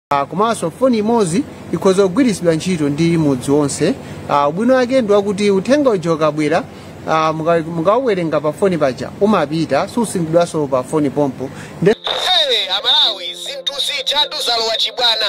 Ah, komanso foni imodzi ikhoza kugwiritsidwa ntchito ndi mudzi wonse Ah, ubwino wake ndi wakuti uthenga uja ukabwera ah, muka- mukauwerenga pa foni paja umafita susungidwanso pa foni pompo Nde- Hey, amalawi zinthu zijatu zalowa chibwana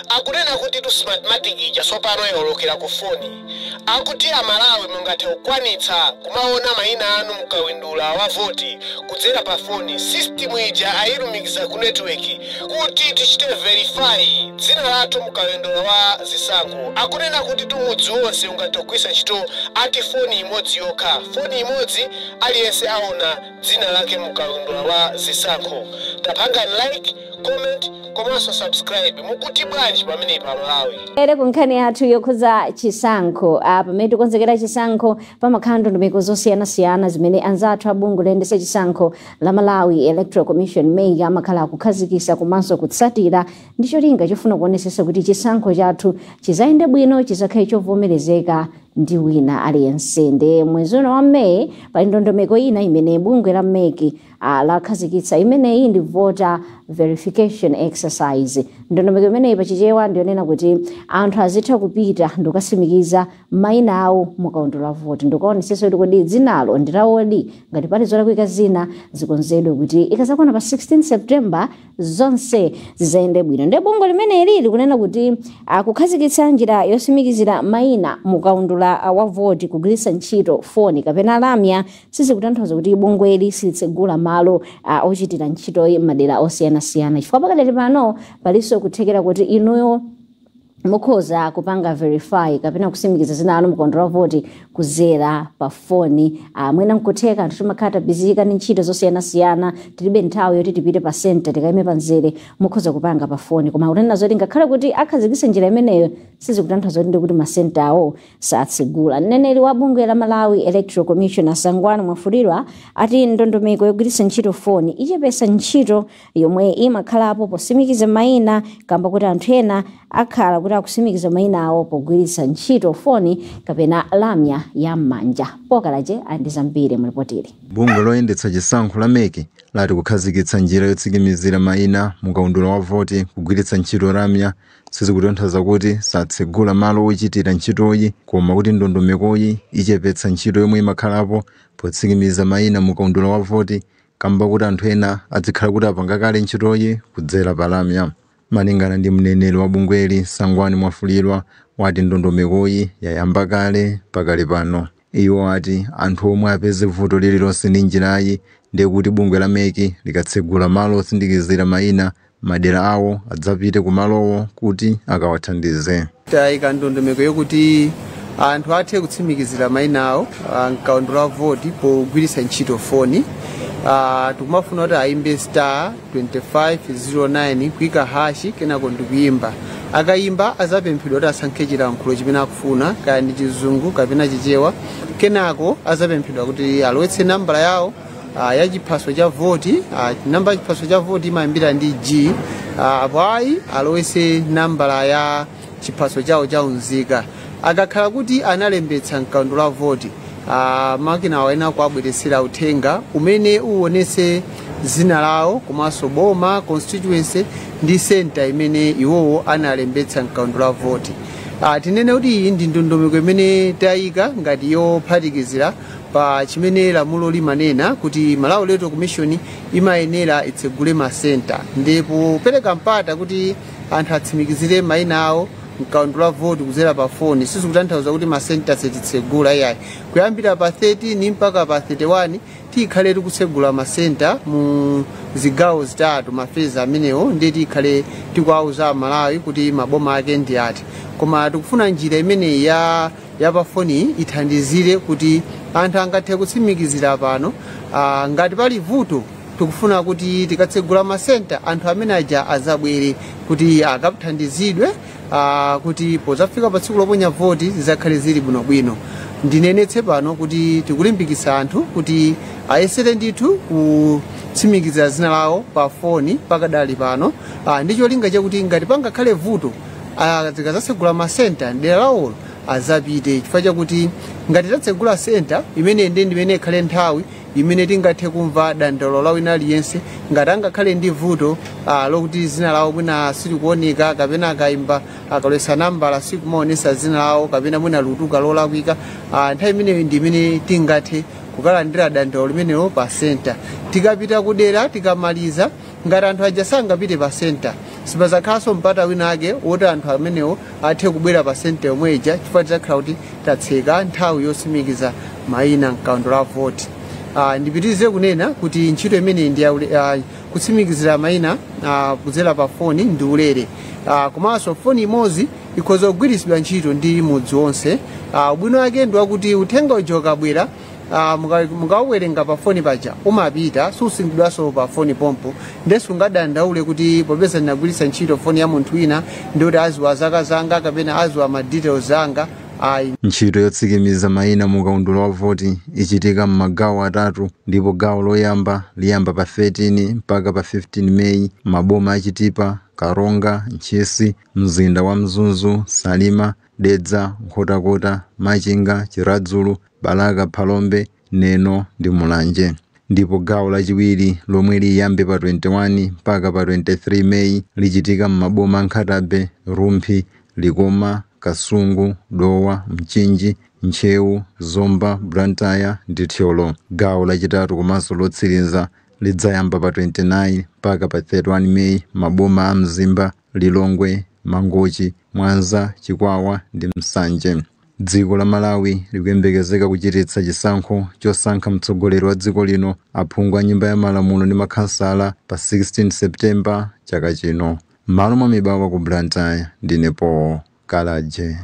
akunena kutitu smartmatic ija tsopano yawolokera ku foni Akuti Amalawi mungathe kukwanitsa kumaona maina anu mukaundula wa voti kudzera pa foni, system ija ayilumikiza ku network kuti tichite verify dzina lathu mukaundula wa zisankho. Akunena kutitu mudzi wonse ungathe kugwiritsa ntchito ati foni imodzi yokha, foni imodzi aliyense aona dzina lake mukaundula wa zisankho. Tapangani like. comment komanso subscribe. Mukuti bwanji pamenepa Amalawi? ere ku nkhani yathu yokhudza chisankho ah, pamene tikukonzekera chisankho pamakhala ndondomeko zosiyanasiyana zimene anzathu a bungwe loyendetsa chisankho la malawi electoral commission mec amakhala akukhazikitsa komanso kutsatira ndi cholinga chofuna kuonesesa kuti chisankho chathu chizayende bwino chizakhale chovomerezeka ndi wina aliyense nde mwezi uno wa meyi pali ndondomeko ina imene bungwe la mec ah, lakhazikitsa imeneyi ndi voter verification exercise ndondomeko imeneyi pa chichewa ndiyonena kuti anthu azitha kupita ndikukasimikiza maina awo mukaundula wa voti ndikukaonesetsa kuti kodi dzinalo ndilawodi ngati pali zolakwika zina zikonzedwe kuti ikazakwana pa 16 september zonse zizayende bwino ndiye bungwe limeneli likunena kuti ah, kukhazikitsa njira yosimikizira maina mukaundula ah, wa voti kugwiritsa ntchito foni kapena lamya sizikutanthauza kuti bungweli silitsegula malo ah, ochitira ntchitoyi m'madera osiyanasiyana chifukwa pakadali pano palinso kuthekera kuti inuyo mukhoza kupanga verify kapena kusimikiza dzina lanu mukaundula wa voti kuzera pa foni ah, mwina nkutheka anthu timakhala tabizika ndi ntchito zosiyanasiyana tilibe nthawi yoti tipite pa senta tikayime pa mzere mukhoza kupanga pa foni koma kunena zoti ngakhale kuti akhazikise njira imeneyo sizikutanthauza kuti ndikuti masenta awo satsegula. Mneneri wa bungwe la Malawi Electoral Commission a Sangwani Mwafulirwa ati ndondomeko yogwiritsa ntchito foni ichepetsa ntchito yomwe imakhalapo posimikiza mayina kamba kuti anthu ena akhala kuti akusimikiza mayina awo pogwiritsa ntchito foni kapena lamya ya m'manja. Pokalaje ali ndi zambiri mu lipotili. Bungwe loyendetsa chisankho la mec lati kukhazikitsa njira yotsikimizira mayina mu kaundula wa voti kugwiritsa ntchito lamya Sizikutanthauza kuti satsegula malo ochitira ntchitoyi koma kuti ndondomekoyi ichepetsa ntchito yomwe imakhalapo potsikimiza maina mu kaundula wa voti kamba koti anthu ena adzikhala kuti apanga kale ntchitoyi kudzera pa lamya. Malingana ndi mneneri wa bungweli Sangwani Mwafulirwa wati ndondomekoyi yayamba kale pakali pano. Iwo ati anthu omwe apeze vuto lililonse ndi njirayi ndiye kuti bungwe la mec likatsegula malo otsindikizira maina m'madera awo adzapite ku malowo kuti akawathandize. Tayika ndondomeko yokuti anthu athe kutsimikizira maina awo ah, m'kaundula wa voti pogwiritsa ntchito foni. Ah, Tikumafuna kuti ayimbe star 2509 kuika hashi kenako ndikuyimba akayimba azapemphedwa kuti asankhe chilankhulo chimene akufuna kaya ndi chizungu kapena chichewa kenako azapemphedwa kuti alowetse nambala yawo ah, ya chiphaso cha voti ah, namba ya chiphaso cha voti imayambira ndi g ah, apo ayi alowetse nambala ya chiphaso chawo cha unzika akakhala kuti analembetsa mkaundula wa voti ah, makinawo ena kuwabweretsera uthenga umene uwonetse dzina lawo komanso boma constituency ndi senta imene iwowo analembetsa mkaundula wa voti Ah, tinene kuti iyi ndi ndondomeko imene tayika ngati yophatikizira pa chimene lamulo limanena kuti malawi electoral commission imayenera itsegule masenta ndi kupereka mpata kuti anthu atsimikizire maina awo mkaundula wa voti kudzera pa foni sizikutanthauza kuti masenta sititsegula iyayi kuyambira pa 13 mpaka pa 31 tikhale tikutsegula masenta mu zigawo zitatu mafezi amenewo ndiye tikhale tikuwauza amalawi kuti maboma ake ndi ati koma tikufuna njira imeneyi ya ya pafoniyi ithandizire kuti anthu angathe kutsimikizira pano ah, ngati pali vuto tikufuna kuti tikatsegula masenta anthu amene aja azabwere kuti akathandizidwe ah, kuti pozafika pa tsiku loponya voti zizakhale zili bwinobwino ndinenetse pano kuti tikulimbikitsa anthu kuti ayesere ndithu kutsimikizira zina lawo pa foni pakadali pano ah, ndi cholinga chakuti ngati pangakhale vuto Ah, tikazatsegula masenta mdera lawolo azapite chifukwa chakuti ngati tatsegula senta imeneyi ndimene ikhale nthawi imene tingathe kumva dandaulo la wina aliyense ngati angakhale ndi vuto ah, lokuti zina lawo mwina silikuoneka kapena akaimba akalowetsa nambala sikumaonesa zina lawo kapena mwina lutuka lolakwika ah, nthawi imeneyo ndi imene tingathe kukalandira dandaulo limenelo pa senta tikapita kudera tikamaliza ngati anthu aja sangapite pa senta sipazakhalanso mpata wina ake woti anthu amenewo athe kubwera pa senta yomwe ija chifukwa tidzakhala kuti tatseka nthawi yotsimikiza mayina mkaundula wa voti Ah, ndipitirize kunena kuti ntchito imeneyi ndi ya ule- ah, kutsimikizira mayina ah, kudzera pa foni ndi ulere Ah, komanso foni imodzi ikhoza kugwiritsidwa ntchito ndi mudzi wonse Ah, ubwino wake ndi wakuti uthenga uja ukabwera ah, munga- mukauwerenga pa foni paja umafita susungidwanso pa foni pompo nde sungadandaule kuti popeza ndinagwiritsa ntchito foni ya munthu wina ndiye kuti adziwa zaka zanga kapena adziwa ma details anga ayi ntchito yotsikimiza mayina mu kaundula wa voti ichitika m'magawo atatu ndipo gawo loyamba liyamba pa 13 mpaka pa 15 meyi maboma a chitipa karonga ntchisi mzinda wa mzuzu salima dedza nkhotakota machinga chiradzulu Balaka, Phalombe, Neno ndi Mulanje ndipo gawo lachiwiri lomwe liyambe pa 21 mpaka pa 23 May lichitika m'maboma a Nkhata Bay, Rumphi, Likoma, Kasungu, Dowa, Mchinji, Ntcheu, Zomba, Blantyre ndi Thyolo. Gawo lachitatu komanso lotsiriza lidzayamba pa 29 mpaka pa 31 May m'maboma a Mzimba, Lilongwe, Mangochi, Mwanza, Chikwawa ndi Nsanje. Dziko la Malawi likuyembekezeka kuchititsa chisankho chosankha mtsogoleri wa dziko lino, aphungu a Nyumba ya Malamulo ndi makhansala pa 16 September chaka chino. M'malo mwa Mibawa ku Blantyre, ndine Paul Kalaje.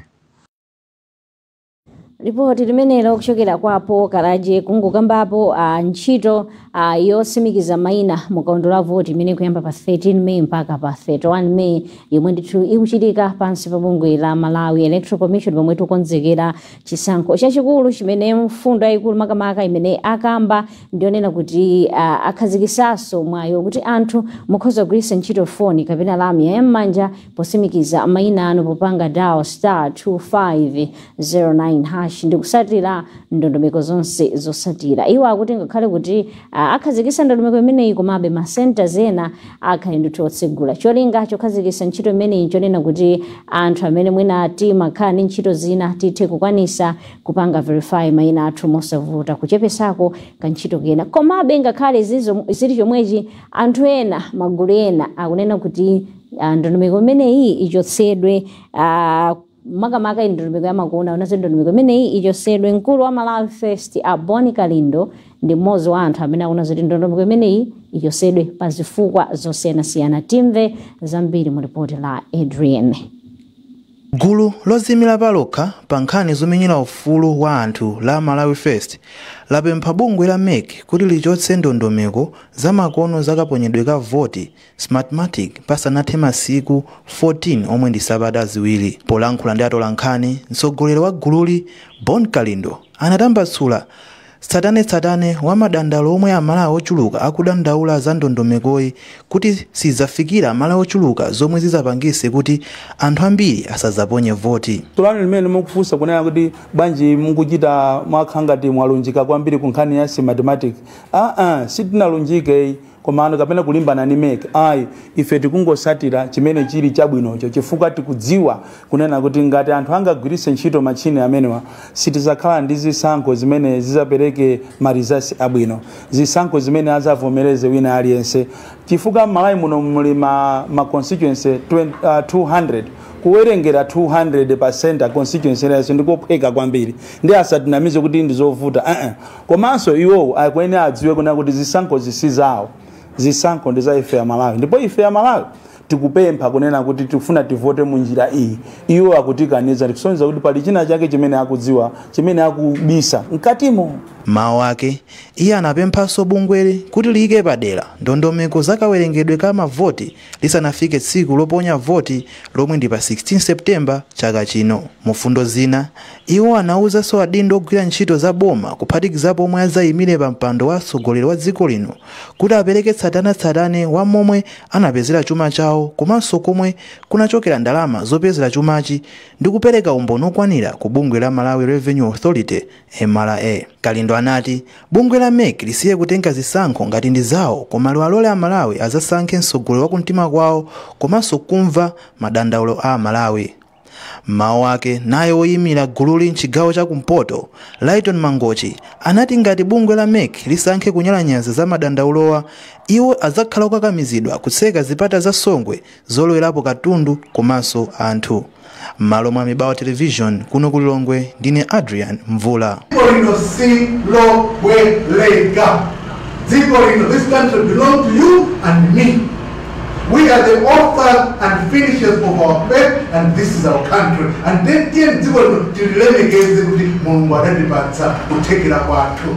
lipoti limenelo kuchokera kwa paul kalaje kungokambapo a ntchito a yotsimikiza maina mu kaundula wa voti imene ikuyamba pa 13 may mpaka pa 31 may yomwe ndithu ikuchitika pansi pa bungwe la malawi electoral commission pomwe tikukonzekera chisankho chachikulu chimene mfundo yayikulu makamaka imene akamba ndiyonena kuti a, akhazikitsanso mwayi woti anthu mukhoza kugwiritsa ntchito foni kapena lamya ya m'manja Potsimikiza mayina anu popanga dial star 2509 hash ndi kutsatira ndondomeko zonse zotsatira. Iwo akuti ngakhale kuti ah, akhazikitsa ndondomeko imeneyi komabe ma centers ena akhale ndithu otsegula. Cholinga chokhazikitsa ntchito imeneyi nchonena kuti anthu amene mwina timakhala ndi ntchito zina tithe kukwanitsa kupanga verify mayina athu mosavuta kuchepetsako kantchito kena. Komabe ngakhale zizo- zili chomwechi anthu ena magulu ena akunena kuti Ah, ndondomeko imeneyi ichotsedwe ah, makamaka iyi ndondomeko yamakono nayo ndondomeko imeneyi ichotsedwe mkulu wa malawi first a bon kalindo ndi mmodzi wa anthu amene akufuna zoti ndondomeko imeneyi ichotsedwe pa zifukwa zosiyanasiyana timve zambiri mu ripoti la adrian gulu loziyimira palokha pa nkhani zomenyera ufulu wa anthu la malawi first lapempha bungwe la mec kuti lichotse ndondomeko zamakono zakaponyedwe ka voti Smartmatic pasanathe masiku 14 omwe ndi sabata ziwiri. Polankhula ndi atolankhani, mtsogoleri wa gululi Bon Kalindo anatambasula tsatanetsatane wa madandaulo omwe Amalawi ochuluka akudandaula za ndondomekoyi kuti siidzafikira Amalawi ochuluka zomwe zidzapangise kuti anthu ambiri asadzaponye voti. Funso limene mukufunsa kunena kuti bwanji mukuchita mwakha ngati mwalunjika kwambiri ku nkhani ya Smartmatic, aa sitinalunjike ayi. komano kapena kulimbana ndi mec ayi ife tikungosatira chimene chili chabwinocho chifukwa tikudziwa kunena kuti ngati anthu angagwiritse ntchito machini amenewa sitizakhala ndi zisankho zimene zizapereke ma results abwino zisankho zimene azavomereze wina aliyense chifukwa m'malawi muno muli ma, ma constituency 20, uh, 200 kuwerengera 200 pasenta constituency yense ndikophweka kwambiri ndiye asatinamize kuti ndizovuta uh -uh. Komanso iwowo akuyenera adziwe kunena kuti zisankhozi si zawo, zisankho ndi za ife Amalawi ndipo ife Amalawi tikupempha kunena kuti tikufuna tivote mu njira iyi. Iwo akutikaniza zikusonyeza kuti pali china chake chimene akudziwa chimene akubisa mkatimo. M'mawu ake, iye anapemphanso bungweli kuti liyike padera ndondomeko za kawerengedwe ka mavoti lisanafike tsiku loponya voti lomwe ndi pa 16 September chaka chino. Mufundo zina, iwo anawuzanso adindo ogwira ntchito za boma kuphatikizapo omwe adzayimire pa mpando wa atsogoleri wa dziko lino kuti apereke tsatanetsatane wa momwe anapezera chuma chawo komanso komwe kunachokera ndalama zopezera chumachi ndi kupereka umboni okwanira ku bungwe la Malawi Revenue Authority, MRA kalindo anati bungwe la mec lisiye kutenga zisankho ngati ndi zawo koma liwalole amalawi azasankhe mtsogoleri wa kumtima kwawo komanso kumva madandaulo a amalawi mmawu ake naye woyimira gululi mchigawo cha kumpoto lyton mangochi anati ngati bungwe la mec lisankhe kunyalanyaza za madandaulowa iwo azakhala okakamizidwa kutseka zipata za songwe zolowerapo katundu komanso anthu m'malo mwa a mibawa television kuno ku lilongwe ndine adrian mvula dziko lino silobwereka dziko lino this country belong to you and me we are the authors and finishers of our faith and this is our country and then tiyeni dziko lino tililemekeze kuti mulungu adatipatsa kuthekera kwathu